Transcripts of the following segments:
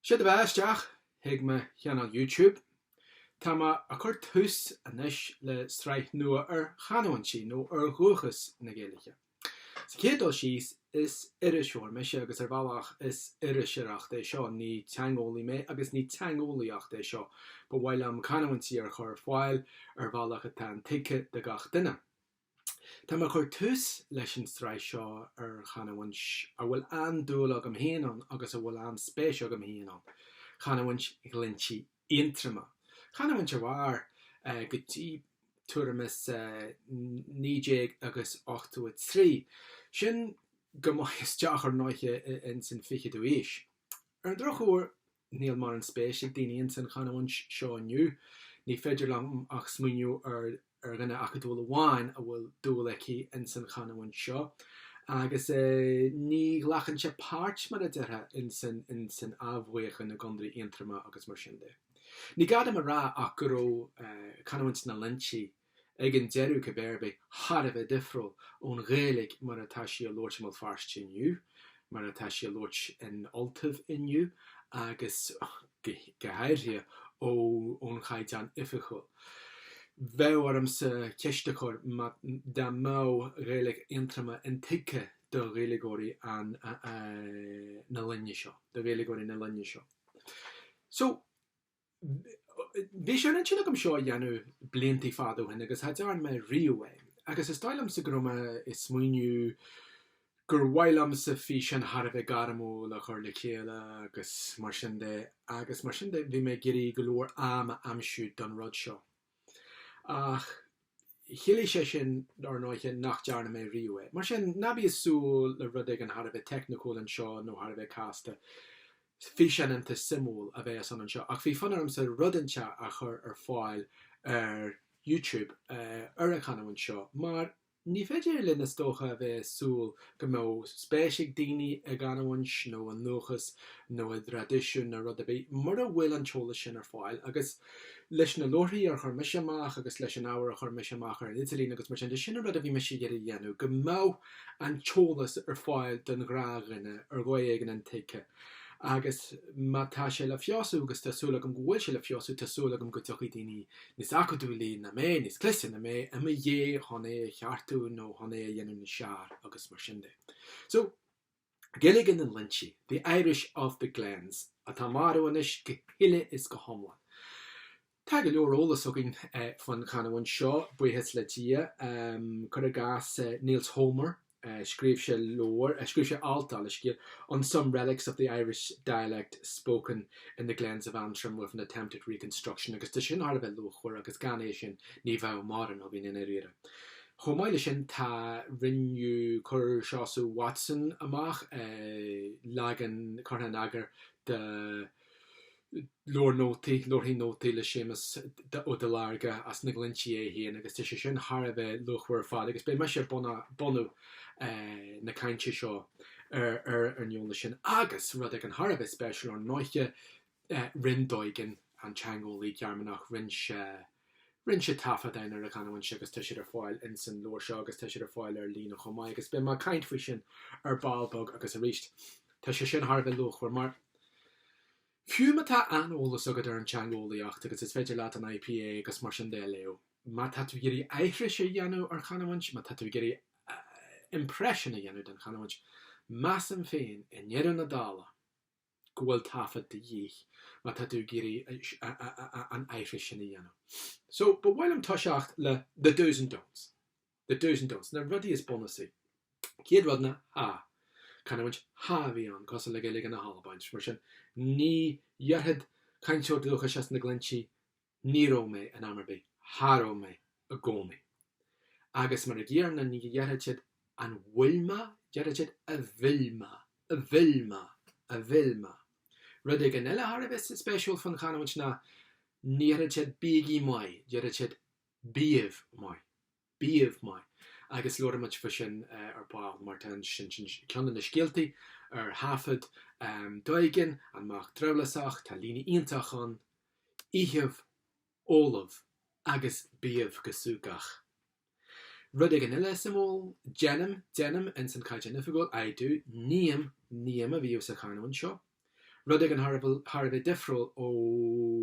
Sé do bheatha isteach chuig mo Channel YouTube. Tá mé ag cur tús anois le sraith nua ar chanúintí nó ar dhúchas na Gaeilge. Sa chéad dul síos, is iriseoir mise agus ar bhealach is iriseoireacht é seo, ní teangeolaí mé agus ní teangeolaíocht é seo. Ba mhaith liom canúintí a chur ar fáil ar bhealach atá intuigthe do gach duine. Tá mé ag cur tús leis an sraith seo ar chanúint a bhfuil an-dúil agam féin ann agus a bhfuil an-spéis agam féin ann, canúint Ghlinntí Aontroma. Canúint a mhair go dtí tuairim is 1983, sin go maith isteach ar ndóighe ins an 20ú aois. Ar an drochuair, Níl morán spéis ag daoine ins an chanúint seo inniu. Ní féidir liom ach smaoineamh ar ar dhuine acadúil amháin a bhfuil dúil aici ins an chanúint seo, agus ní ghlacann sé páirt, mar a déarfá, ins an ins an athbheochan i gCondae Aontroma agus mar sin de. Ní gá dom a rá ach go raibh canúint na nGlinntí, ag an deireadh cibé ar bith, thar a bheith difriúil ón Ghaeilge mar atá sí á labhairt i mBéal Feirste inniu, mar atá sí á labhairt in Ultaibh inniu agus go háirithe ón Chaighdeán Oifigiúil. Bheadh ormsa ceist a chur dá mbeadh Gaeilge Aontroma intuigthe do Ghaeilgeoirí na linne seo. Bhí sé ar intinn agam seo a dhéanamh blianta fada ó shin agus cha dearn mé riamh é, agus is dóigh liomsa go raibh mé ag smaoineamh gur mhaith liomsa físeán thar a bheith gairmiúil a chur le chéile agus mar sin de, agus mar sin de bhí mé ag iarraidh go leor am a aimsiú don rud seo. Ach chiallaigh sé sin, dár ndóighe, nach ndearna mé riamh é. Mar sin, ná bí ag súil le rud éigin thar a bheith teicniúil anseo nó thar a bheith casta, físeán iontach simplí a bheidh ann anseo. Ach bhí fonn ormsa rud inteacht a chur ar fáil ar YouTube, ar an chanúint seo, mar Ní féidir linn is dócha a bheith ag súil go mbeadh spéis ag daoine i gcanúint nó i ndúchas nó i dtraidisiún nó rud ar bith mura bhfuil an t-eolas sin ar fáil agus leis na leabharthaí ar chuir mise amach agus leis an ábhar a chuir mise amach ar an idirlíon agus mar sin de sin an rud a bhí mise ag iarraidh a dhéanamh go mbeadh an t-eolas ar fáil don ghnáthdhuine ar dhóigh éigin intuigthe Agus má tá sé le feabhsú, agus tá súil agam go bhfuil sé le feabhsú, tá súil agam go dtiocfaidh daoine níos acadúlaí ná mé, níos cliste ná mé, i mo dhiaidh chun é a cheartú nó chun é a dhéanamh níos fearr agus mar sin de. So, Gaeilge na nGlinntí, the Irish of the glens, atá marbh anois go huile is go hiomlán. Tá go leor eolas againn faoin chanamhaint seo, buíochas le Dia. Cuir i gcás Nils Holmer, scríobh sé leabhar, scríobh sé alt, gabh mo leithscéal, on some relics of the Irish dialect spoken in the glens of Antrim with an attempt at reconstruction agus tá sin thar a bheith luachmhar agus gan é sin ní bheadh mórán againn i ndáiríre. Chomh maith leis sin tá, rinneadh, chuir Seosamh Watson amach leagan curtha in eagar de, Leabhar nótaí, Leabharthaí nótaí le Séamus Ó Duilearga as na Glinntí é féin agus tá sé sin thar a bheith luachmhar ar fad agus beidh mise ag bunadh na cainte seo ar an eolas sin agus rud éigin thar a bheith spéisiúil ar ndóiche, rinn Doegen, an teangeolaí Gearmánach, rinne sé. Rinne sé taifeadáin ar an chanúint agus tá siad ar fáil insan leabhar seo agus tá siad ar fáil ar líne chomh maith agus beidh mé ag caint faoi sin ar ball beag agus arís. Tá sé sin thar a bheith luachmhar mar fiú má tá an-eolas agat ar an teangeolaíocht agus is féidir leat an IPA agus mar sin de a léamh, má tá tú ag iarraidh aithris a dhéanamh ar chanúint, má tá tú ag iarraidh impression a dhéanamh den chanúint, measaim féin, i ndeireadh na dála, go bhfuil taifead de dhíth má tá tú ag iarraidh an aithris sin a dhéanamh. So, ba mhaith liom toiseacht le the dos and don'ts. The dos and don'ts, na rudaí is bunúsaí. Céad rud ná cha. Canúint cha a bhí ann, cosúil le Gaeilge na hAlban, mar sin ní dhéarfadh cainteoir dúchais as na Glinntí Ní raibh mé in am ar bith cha raibh mé i gcónaí. Agus mar an gcéanna ní dhéarfadh siad an bhfuil mé? Déarfadh siad a bhfuil mé, a bhfuil mé, a bhfuil mé. Rud éigin eile thar a bheith spéisiúil fán chanúint ná ní dhéarfadh siad bígí maith, déarfadh siad bíbh maith. bíbh maith agus labharfaidh muid faoi sin ar ball mar tá sin i gceann de na scéaltaí ar thaifead Doegen, an mac drabhlásach, tá líne iontach ann, ithibh, ólaibh agus bíbh go súgach. Rud éigin eile suimiúil, déanaim, déanaim ins an Caighdeán Oifigiúil, I do, ním, ním a bhíodh sa chanúint seo, Rud éigin thar a bheith difriúil ó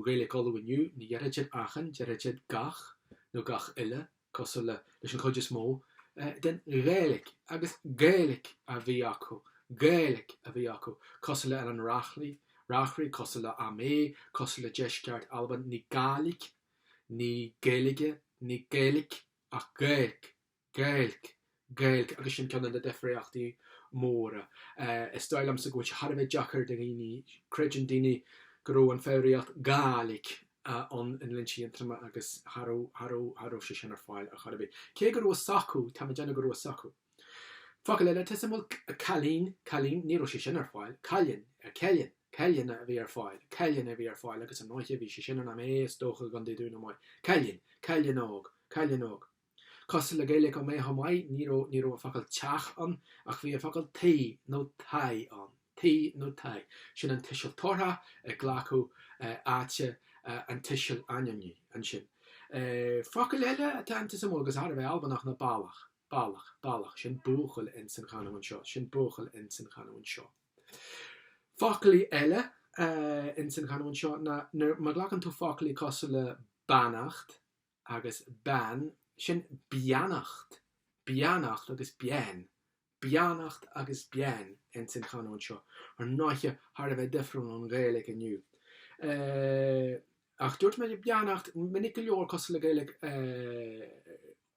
Ghaeilge Uladh inniu, ní dhéarfadh siad 'achan', déarfadh siad 'gach' nó 'gach uile', cosúil le 'leis an chuid is mó den Ghaeilge', agus 'Gaeilg a bhí acu' 'Gaeilg a bhí acu', cosúil le 'ar an Reachlainn', 'Reachraidh', cosúil le 'Ó Méith' cosúil le 'deisceart Alban', ní 'Gàidhlig', ní 'Gaeilge', ní 'Gaeilic' ach 'Gaeilg'. Gaeilge, Gaeilge agus sin ceann de na difríochtaí móra. Is dóigh liomsa go bhfuil sé thar a bheith deacair do dhaoine, creideann daoine go raibh an foghraíocht Gàidhlig ann i nGlinntí Aontroma agus cha raibh, cha raibh, cha raibh sé sin ar fáil ar chor ar bith. Cé go raibh a fhios acu, tá mé déanamh go raibh a fhios acu. Focal eile atá suim, bhuel, cailín, cailín, ní raibh sé sin ar fáil. Cailin, Cailin, Cailin a bhí ar fáil, Cailin a bhí ar fáil agus ar ndóiche bhí sé sin in amanna is dócha i gContae Dhún na nGall. Cailin, Cailin óg, Cailin óg. Cosúil le Gaeilge Oméith chomh maith, ní raibh ní raibh an focal teach ann ach bhí an focal tí nó taí ann. Tí nó taí, sin an tuiseal tabharthach ag glacadh áite an tuisil ainmnigh. Ansin, focail eile atá iontach suimiúil agus thar a bheith Albanach ná balach, balach, balach, sin buachaill in san chanúint seo, sin buachaill in san chanúint seo. Foclaí eile in san chanúint seo ná nuair má ghlacann tú foclaí cosúil le beannacht, agus bean, sin beannacht, beannacht agus bean, beannacht agus bean ins an chanúint seo, ar ndóiche thar a bheith difriúil ón Ghaeilge inniu. Ach dúirt mé beannacht minic go leor cosúil le Gaeilge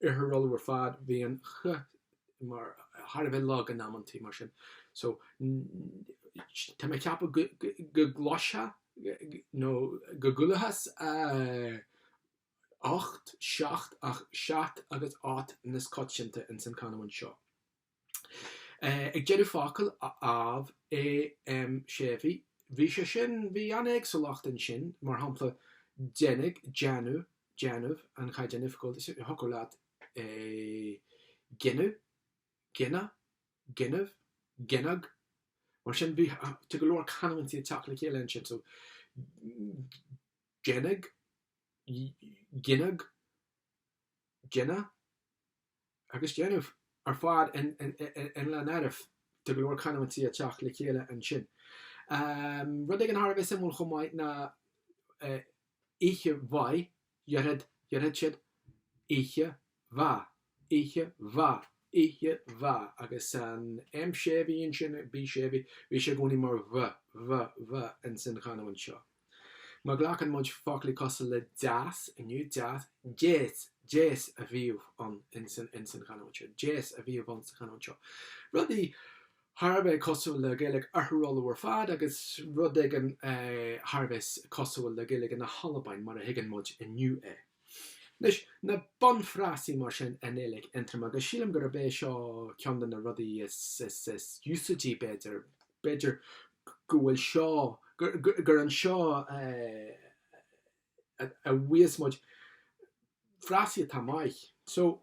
Oirthear Uladh ar fad, bhí an ch mar thar a bheith lag in amanntaí mar sin. So tá mé ag ceapadh go gcloisfeá nó go gcualathas 8, 7 ach 7 agus 8 níos coitianta ins an canúint seo. Ag deireadh focal, AMH, A M séimhithe, bhí sé sin, bhí an éagsúlacht ansin, mar shampla, déanfaidh, déanadh, déanamh, an Chaighdeáin Oifigiúil is dócha leat é, gineadh, gineadh, gineadh, gineadh, mar sin, bhí, tá go leor canúintí ag teacht le chéile ansin, so, deineadh, gineadh, deineadh agus déanamh ar fad i lár na háite, tá go leor canúintí ag teacht le chéile ansin. Rud éigin thar a bheith suimiúil chomh maith ná oíche mhaith, déarfadh, déarfadh siad, oíche mhaith, oíche mhaith, oíche mhaith agus an M séimhithe ansin, B séimhithe, bhí sé i gcónaí mar bh, bh, bh in san chanúint seo. Má ghlacann muid foclaí cosúil le deas inniu, deas, deas, deas a bhíodh ann in san, in san chanúint seo, deas a bhíodh ann sa chanúint seo. Rudaí thar a bheith cosúil le Gaeilge Oirthear Uladh ar fad agus rud éigin thar a bheith cosúil le Gaeilge na hAlbain mar a thuigeann muid inniu é. Anois, na bunfhrásaí mar sin i nGaeilge Aontroma, agus sílim gurb é seo ceann de na rudaí is úsáidí, b'fhéidir, b'fhéidir go bhfuil seo, gur anseo a gheobhas muid frásaí atá maith. So,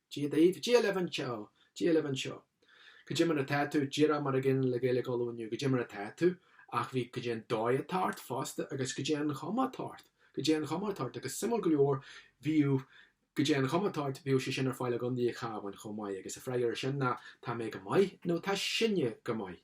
Dia daoibh, Dia libh anseo, Dia libh anseo. Goidé mar atá tú, díreach mar an gcéanna le Gaeilge Uladh inniu, goidé mar atá tú, ach bhí goidé an dóigh atá ort fosta agus goidé an chuma atá ort, goidé an chuma atá ort, agus suimiúil go leor, bhíodh goidé an chuma atá ort, bhíodh sé sin ar fáil i gContae an Chabháin chomh maith, agus an freagra ar sin ná tá mé go maith nó tá sinne go maith.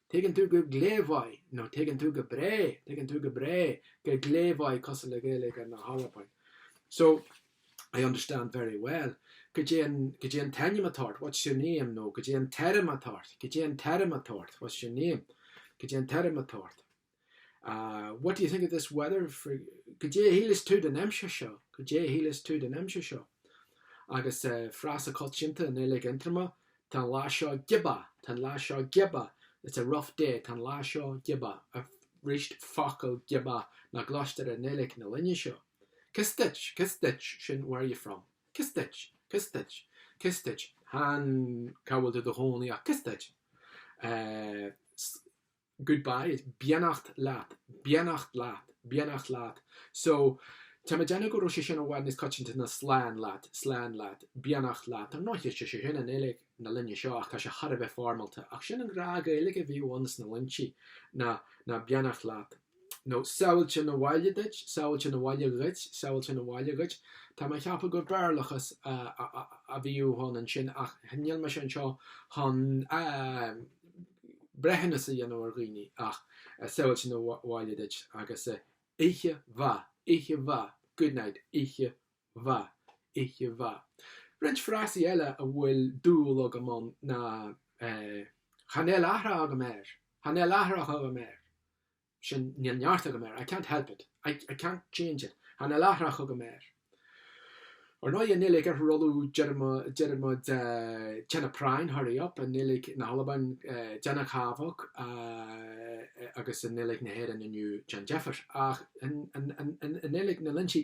Tuigeann tú go glé mhaith, nó tuigeann tú go breá, tuigeann tú go breá, go glé mhaith cosúil le Gaeilge na hAlban. So, I understand very well. Goidé an, goidé an t-ainm atá ort, what's your name? nó goidé an t-airm atá ort, goidé an t-airm atá ort, what's your name? goidé an t-airm atá ort. Ah, what do you think of this weather for Goidé a shíleas tú den aimsir seo, goidé a shíleas tú den aimsir seo. Agus eh, frása coitianta i nGaeilge Aontroma, tá an lá seo giobach, tá an lá seo giobach, it's a rough day, tá an lá seo giobach. Arís, focal é giobach nach gcloistear i nGaeilge na linne seo. Cé as duit, cé as duit, sin where are you from? Cé as duit, cé as duit, cé as duit, chan cá bhfuil tú do chónaí ach cé as duit. Eh, goodbye, beannacht leat, beannacht leat, beannacht leat so tá mé ag déanamh go raibh sé sin i bhfad níos coitianta ná slán leat, slán leat, beannacht leat. Ar ndóigh, tá sé sin i nGaeilge na linne seo ach tá sé thar a bheith foirmeálta. Ach sin an ghnáth-Ghaeilge a bhíodh ann sna Glinntí ná ná beannacht leat nó sábháilte 'na bhaile duit, sábháilte 'na bhaile dhuit, sábháilte 'na bhaile dhuit. Tá mé ag ceapadh gur Béarlachas a bhíodh ann ansin ach níl mise anseo chun a. breithiúnas a dhéanamh ar dhaoine ach sábháilte 'na bhaile duit agus oíche mhaith, oíche mhaith, good night, oíche mhaith, oíche mhaith. Roinnt frásaí eile a bhfuil dúil agam ann ná Chan eil athrach agam air, Chan eil athrach agam air, sin, níl neart agam air, I can't help it, I can't change it, chan eil athrach agam air. Ar ndóigh, i nGaeilge Oirthear Uladh deireadh muid déana práinn, hurry up, i nGaeilge na hAlban déana cabhag agus i nGaeilge na hÉireann inniu déan deifir. Ach i nGaeilge na nGlinntí.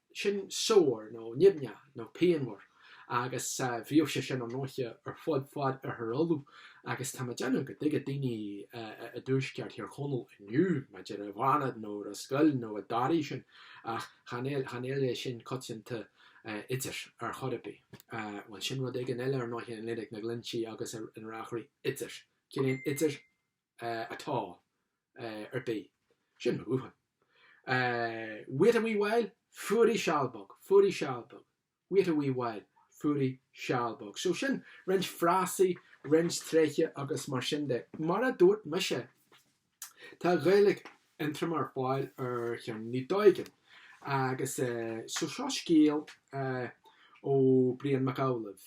sin sore nó nimhneach nó pianmhar agus bhíodh sé sin ar ndóighe ar fud fad Oirthear Uladh agus tá mé ag déanamh go dtuigfeadh daoine i dtuaisceart Thír Chonaill inniu b'fhéidir i bhFánaid nó Ros Goill nó i dToraigh sin ach chan eil é sin coitianta idir ar chor ar bith. Bhuel sin rud éigin eile ar ndóighe i nGaeilge na nGlinntí agus in Reachraidh idir, ciallaíonn idir? at all, ar bith. Sin mo dhúshlán. Wait a wee while, fuirigh seal beag, fuirigh seal beag. Wait a wee while, fuirigh seal beag. So sin roinnt frásaí, roinnt tréithe agus mar sin de. Mar a dúirt mise, tá Gaeilge Aontroma ar fáil ar cheirníní Doegen agus seo scéal ó Brian Mac Amhlaoibh,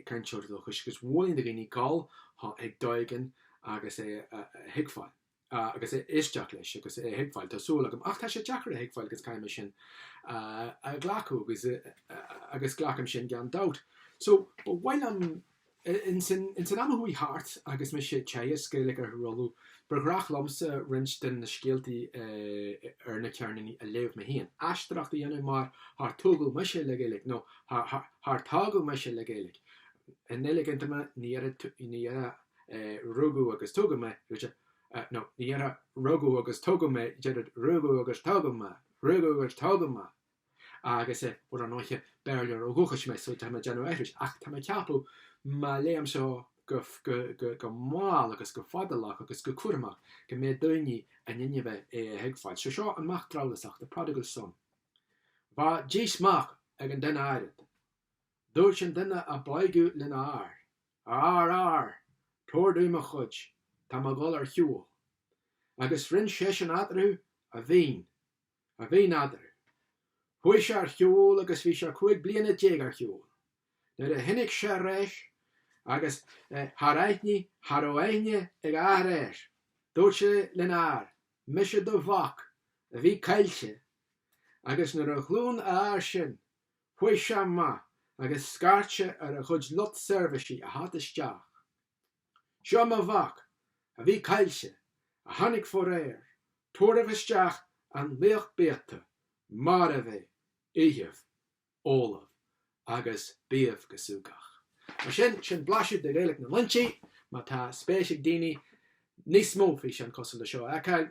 cainteoir dúchais, agus mholfainn do dhaoine dul chuig Doegen agus é a thuigbheáil, agus é a éisteacht leis agus é a thuigbheáil, tá súil agam, ach tá sé deacair a thuigbheáil agus caithfidh mé sin a ghlacadh agus glacaim sin gan dabht. So ba mhaith liom. In san am a chuaigh thart agus mise ag teagasc Gaeilge Oirthear Uladh, ba ghnách liomsa roinnt de na scéaltaí ar na ceirníní a léamh mé féin, aisteoireacht a dhéanamh mar char tógadh mise le Gaeilge, nó char tógadh mise le Gaeilge. I nGaeilge Aontroma, ní ar a rugadh agus tógadh mé, nó ní ar a rugadh agus tógadh mé, deirid rugadh agus tógadh mé, rugadh agus tógadh mé. agus i, ar ndóiche, Béarlóir ó dhúchas mé so tá mé ag déanamh aithris ach tá mé ag ceapadh má léim seo go, go, go, go mall agus go fadálach agus go cúramach go mbeidh daoine in innimh é a thuigbheáilt. So seo an mac drabhlásach, the prodigal son. Bha dís mac ag an duine áirid. Dúirt an duine a b'óige lena athair, A athair, athair, tabhair domh mo chuid, tá mé ag dhul ar shiúl. Agus roinn seisean eatarthu a mhaoin. A mhaoin eatarthu, chuaigh sé ar shiúl agus bhí sé cúig bliana déag ar shiúl nuair a tháinig sé ar ais agus char aithnigh, cha rabh aithne ag a athair air, dúirt sé lena athair, Mise do mhac a bhí caillte. Agus nuair a chluin a athair sin, chuaigh sé amach agus scairt sé ar a chuid lucht seirbhíse a theacht isteach. Seo mo mhac, a bhí caillte, a tháinig foréir, tabhairibh isteach an lao biata, marbh é, itheadh, óladh, agus bíodh go súgach. Mar sin, sin blaiseadh de Ghaeilge na nGlinntí, má tá spéis ag daoine níos mó físeán cosúil le seo a fheiceáil.